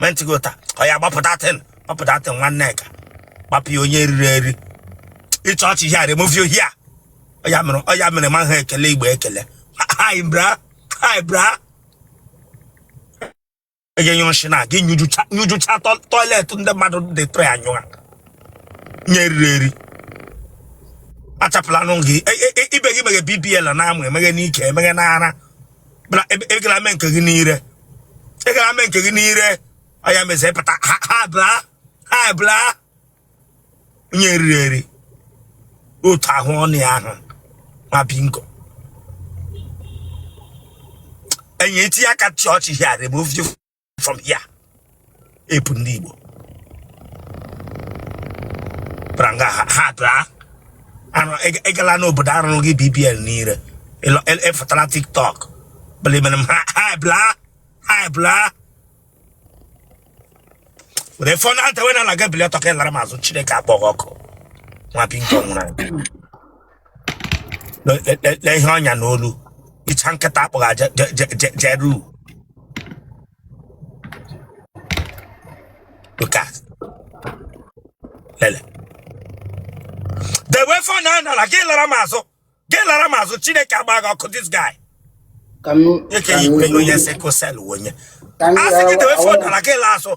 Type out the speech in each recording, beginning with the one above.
mentigo taa ọ ya gbapụta tin gbapụta tin nwanne ka gbapụ ya onye eriri eri ịchọ ọchị here remove you here ọ ya mere ọ ya mere ma ha ekele igbo ekele hi bra hi bra ege nyụrụ nshị na gị nyụjụcha nyụjụcha tọ- tọiletị ndị mmadụ dị tụrụ ya nyụọ onye eriri eri achapụlanụ gị E- e- e- ibe gị meghe bbl n'amụ emeghe n'ike emeghe n'ara bra ebe- ị gala mee nke gị n'ire ị gara mee nke gị n'ire ọ ya me eze pụta ha ha bla ha bla onye eriri eri otu ahụ ọnụ ya ahụ nwa bingo enyi eti aka chọọchị here remove you from here epu ndị Igbo bara nga ha ha daa arụ ị- ị gala n'obodo arụrụ gị bbl n'ire ịlọ- ị- ị fụtara tiktok bụlimere m ha ha bla ha bla were fon a tọwe n'ala gị bili ọtọ gị lara m azụ chineke akpọ gị ọkụ nwa bingo nwụrụ anwụ. Le- le- le- le ihe o nya n'olu ịcha nkịta akpọghị aja je- je- je- jeru Look at. Lele. Dewe fon a n'ala gị lara m azụ. Gị lara m azụ. Chineke agba gị ọkụ this guy. Ka m Eke ka m ikpe onye wee- sekosel onye. ka m A sị gị gara- dewe fon n'ala gị laa azụ.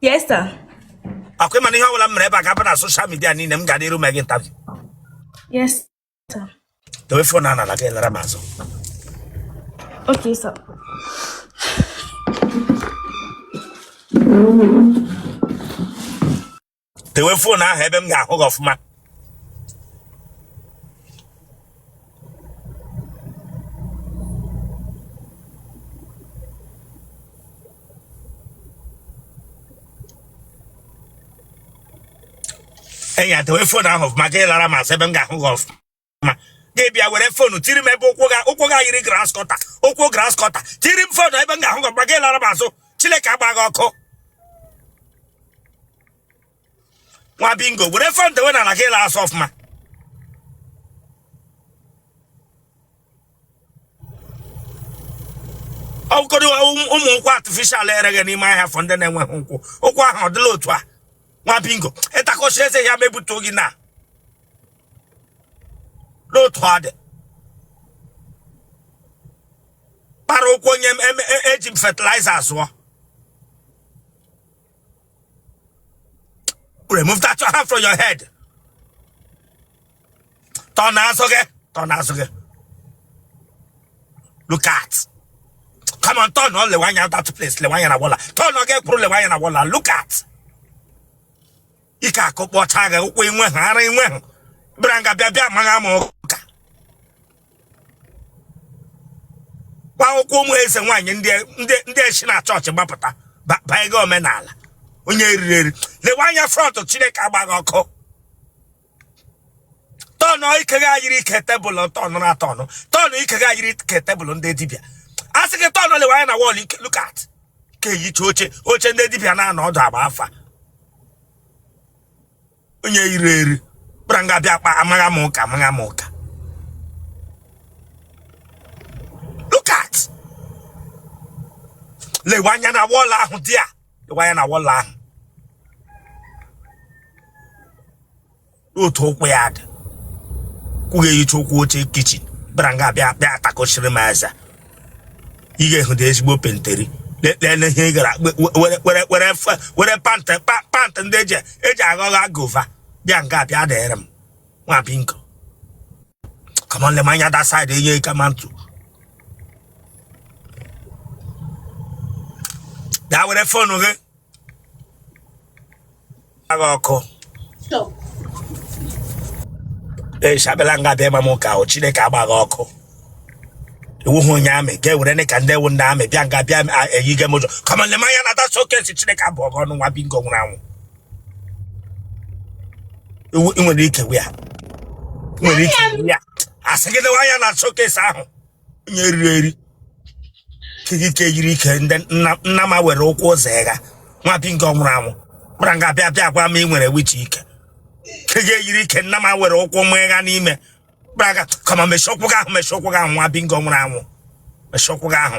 Yes, sir. Akwa ị ma na ihe ọbụla m mere ebe a ga-aba na soshal midia niile m ga-adịru mee gị ntabi. Yes, sir. Dowe fon a n'ala gị lara m azụ. Okay, sir. dewe fon ahụ ebe m ga-ahụ gị ọfụma enyi a dewe fon ahụ ọfụma gị lara m azụ ebe m ga-ahụ gị ọfụma ma gị bịa were fonu tiri m ebe ụkwụ gị a ụkwụ gị a yiri grass cutter ụkwụ grass cutter tiri m fonu ebe m ga-ahụ gị mgbe gị lara m azụ chineke agba gị ọkụ nwa bingo were fon dewe n'ala gị laa azụ ọfụma ọkụkọdụ ụmụ ụkwụ artificial ereghị n'ime ahịa for ndị na-enweghị ụkwụ ụkwụ ahụ ọ dịla otu a nwa bingo ịtakọchi eze ya mebutụ gị na n'otu ọ dị kpara ụkwụ onye m- em- e- eji m fertilizer zụọ remove that your hand from your head tọ n'azụ gị tọ n'azụ gị look at come on turn on lewe anya that place lewe anya na wall a turn on gị kwuru lewe anya na wall a look at ike akụ kpọcha gị ụkwụ inwe ha ara inwe ha bịara nga bịa bịa amagha m ụka kwa ụkwụ ụmụ eze nwaanyị ndị shi na chọọchị gbapụta banye gị omenala onye eriri eri lewe anya front chineke agba gị ọkụ tọnụ ike gị a yiri ike table tọnụ na tọnụ tọnụ ike gị a yiri ike table ndị dibịa a sị gị tọnụ lewe anya na wall look at ka eyicha oche oche ndị dibịa na-anọ ọdụ agba afa onye eriri eri bịara nga bịa kpa amagha m ụka amagha m ụka look at lewe anya na wall ahụ there lewe anya na wall ahụ otu ụkwụ ya dị ụkwụ gị eyicha ụkwụ oche kitchen bịara nga bịa bịa atakọchiri m aza ị ga-ehụda ezigbo penteri lele ihe ị gara were pant pant ndị eji eji aghọgha guava bịa nga bịa dịrị m nwa bingo come on le m anya that side enye ike ma ntụ daa were phone gị agha ọkụ eshabela nga bịa ma m ụka ahụ chineke agba gị ọkụ ị wụhụ onye army ga ewere ne ka ndị wụ ndị army bịa nga bịa eyige m ụjọ come on le m anya na that showcase chineke abụọ gị ọnụ nwa bingo nwụrụ anwụ ewu ị nwere ike wia nwere ike wia asị gị dewa anya na showcase ahụ onye eriri eri kikike yiri ike nnama were ụkwụ ụzọ ịga nwa bingo nwụrụ anwụ bịara nga bịa bịa gwa m ị nwere wichi ike nke gị yiri ike nnama were ụkwụ m ịga n'ime kpara ga kama mechie ụkwụ gị ahụ mechie ụkwụ gị ahụ nwa bingo nwụrụ anwụ mechie ụkwụ gị ahụ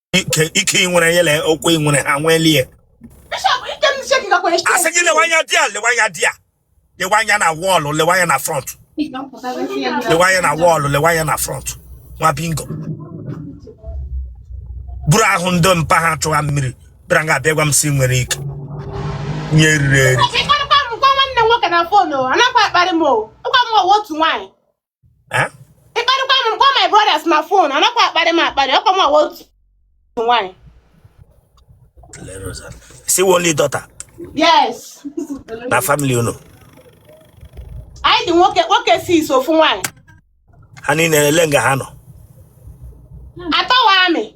ike ike ị nwere ya lee ụkwụ ị nwere ha nwelie Bishop, ike m shake gakwa asị eke. gị lewe anya there lewe anya there lewe anya na wall lewe anya na front lewe anya na wall lewe anya na front nwa bingo buru ahụ ndị mpa ha chụwa mmiri bịara nga abịa gwa m si nwere ike onye eriri eri Ị kparịkwa m gwa nwanne m nwoke na phone o, anakwa akparị m o. Ịgwa m ọwa otu nwaanyị. eh? ịkparịkwa m gwa my brothers na fon anakwa akparị m akparị ọkwa m wụ otu nwaanyị si only daughter yes na family unu anyị dị nwoke isii sọ ofu nwaanyị ha niile lee nga ha nọ atọ wụ army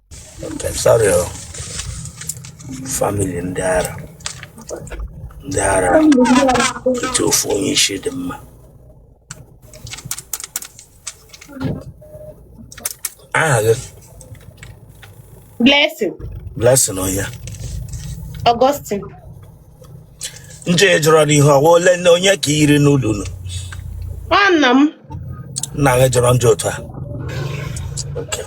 Sorry, oh. family ndị ara ndị ara etu ofu onye isi dị mma aha gị Blessing, blessing onye Augustine. njọ ị jọrọ n'ihu ọ wụ ole onye ka i yiri n'ụlọ unu ọ nna m nna gị jọrọ njọ otu a Okay.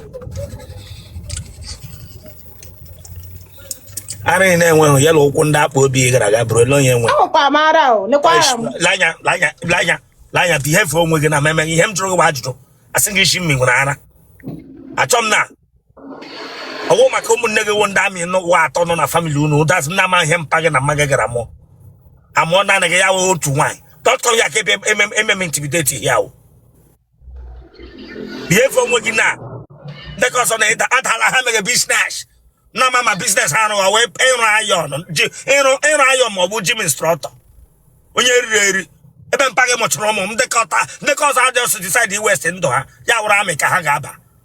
ara ị na-enweghị ya na ụkwụ ndị akpa obi ị gara aga buru ole onye nwe ahụkwa m ara o lekwa ara m lanya lanya lanya lanya behave onwe gị na meme ihe m jụrụ gị bụ ajụjụ asị gị ị sị m i nwere ara achọ m na ọ wụ maka ụmụnne gị wụ ndị army nụwa atọ nọ na family unu that is ndị amaghị ihe mpa gị na mma gị gara mụọ amụọ naanị gị ya wụ otu nwaanyị don't come here ka ebe emem- ememe intimidate ya wụ behave onwe gị na ndị ka ọzọ na ịda adala ha mere biznes na ma ma biznes ha rụwa wee ịrụ iron ji ịrụ ịrụ iron ma ọ bụ gym instructor onye riri eri ebe mpa gị mụchụrụ ụmụ m ndị ka atọ ndị ka ọzọ ha just decide i-waste ndụ ha ya wụrụ army ka ha ga-aba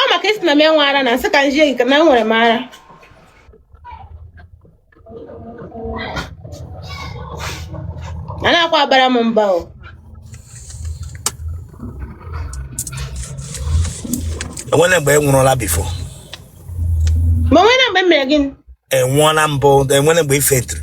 ọ maka ị sị na m enwe ara na m sị ka m zi gị na enwere m ara anakwa abara m mba o enwere mgbe ị nwụrụla before ma o nwere mgbe m mere gịnị ị nwụọla mbụ enwere mgbe ị faintiri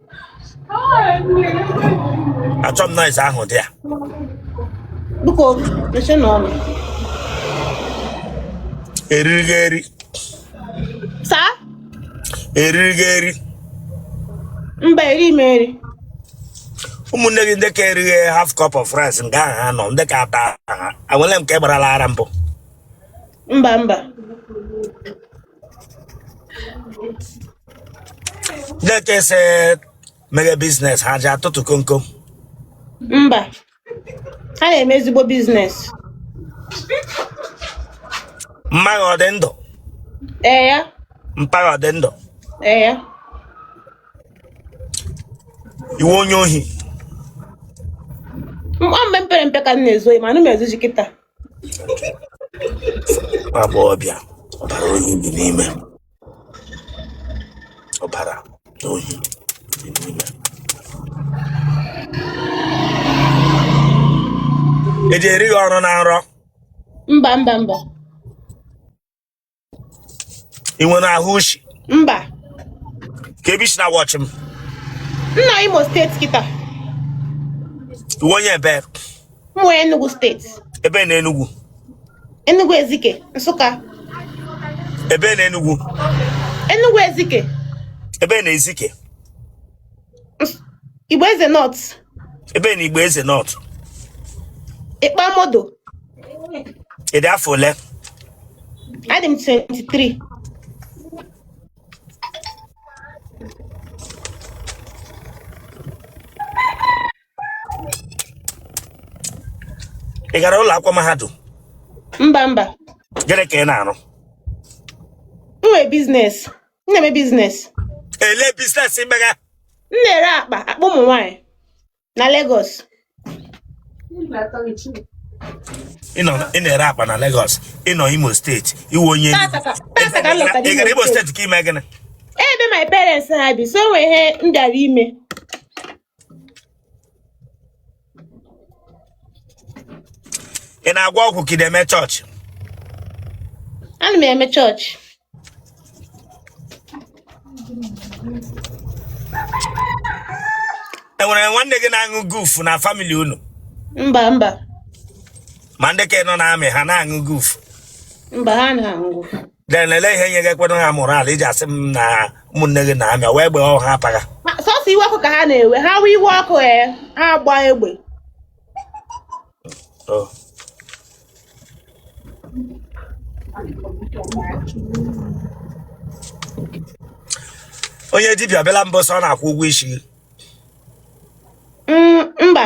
achọ m noise ahụ dị there Biko, mechienụ ọnụ. eriri gị eri Sir? eriri gị eri Mba, eri m eri. ụmụnne gị ndị ka eri half cup of rice na nga ha nọ ndị ka atọ ahụ o nwere nke gbarala ara mbụ Mba, mba. Ndị ka ị sị mere biznes ha ji atụtụ komkom. Mba, ha na-eme ezigbo biznes. Mma gị ọ dị ndụ? Ee ya. Mpa gị ọ dị ndụ? Ee ya. Ị wụ onye ohi? Mgbe m pere mpe ka m na-ezu ma anaghị m ezuzi kịta. Agba ọbịa ọbara ohi dị n'ime ọbara ohi dị n'ime. Eji eri gị ọrụ na nrọ. Mba mba mba. ị nwere ahụ ushi mba ka ebe i si na-watch m m nọ imo steeti kịta ị wụ onye ebee m wụ enugu steeti ebee na enugwu enugu ezike nsụka ebee na enugwu enugu ezike ebee na ezike Igbo Eze North. Ebee na Igbo Eze North. Ikpamodo. Ị dị afọ ole? Adị m 23. Ị gara ụlọ akwụkwọ mahadum? Mba mba. Gịnị ka ị na-arụ? M nwere biznes. m na-eme biznes elee biznes i mega m na-ere akpa akpa ụmụ nwaanyị na Lagos ị na-ere akpa na Lagos ị nọ Imo steeti ị wụ onye Tata ka- tata ka m lọtara ị gara Imo Imo steeti ka i mee gịnị ebe my parents ha bi so enwe ihe m bịara ime ị na-agwọ ọgwụ ka ị na-eme chọọchị ana m eme chọọchị enwere nwanne gị na-aṅụ guf na famili unu mba mba ma ndị ka ị nọ na-amị ha na-aṅụ guf mba ha na-aṅụ then elee ihe nye gị ekwena ha moral iji asị m na ụmụnne gị na-amị wee gbee ọha apaga Ma sọsọ iwe ọkụ ka ha na-ewe ha wee iwe ọkụ ee ha agba egbe Oh. onye dibịa bịala mbụ sị ọ na-akwụ ụgwọ isi gị Mm, mba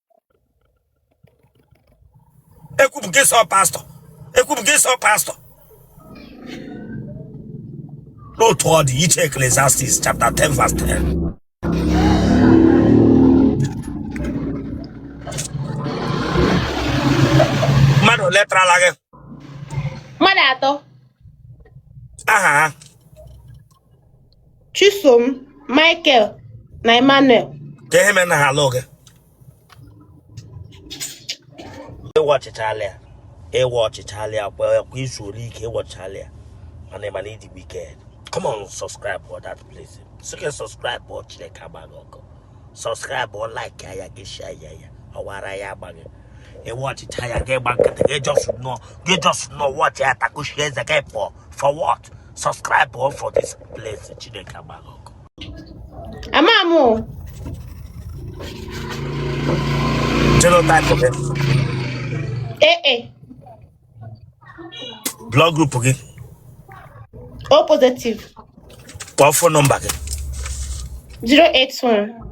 ekwupụ gị sọ pastọ ekwupụ gị sọ pastọ n'otu ọ dị iche eklesiastis chapter 10 verse 10 mmadụ ole tarala gị mmadụ atọ aha ha Chisom, Michael na Emmanuel. Ka ihe mere na ha alụ gị. Ị watchịchala ya. Ị watchịchala ya kwa i zuole ike ị watchịchala ya. Mana ị ma na ị dị wicked. Come on, subscribe for that place. So you can subscribe for Chineke agba gị ọkụ. Subscribe or like ya ya gị share ya ya. Ọwara ya agbaghị. Ị watchịcha ya gị gba nkịtị gị just nọ gị just nọ watch ya takushi eze gị pụọ for what? subscribe o for this place chineke agba gị ọkụ ama m genotype gị ee e. blood group gị o positive kpọọ phone number gị 081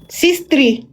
63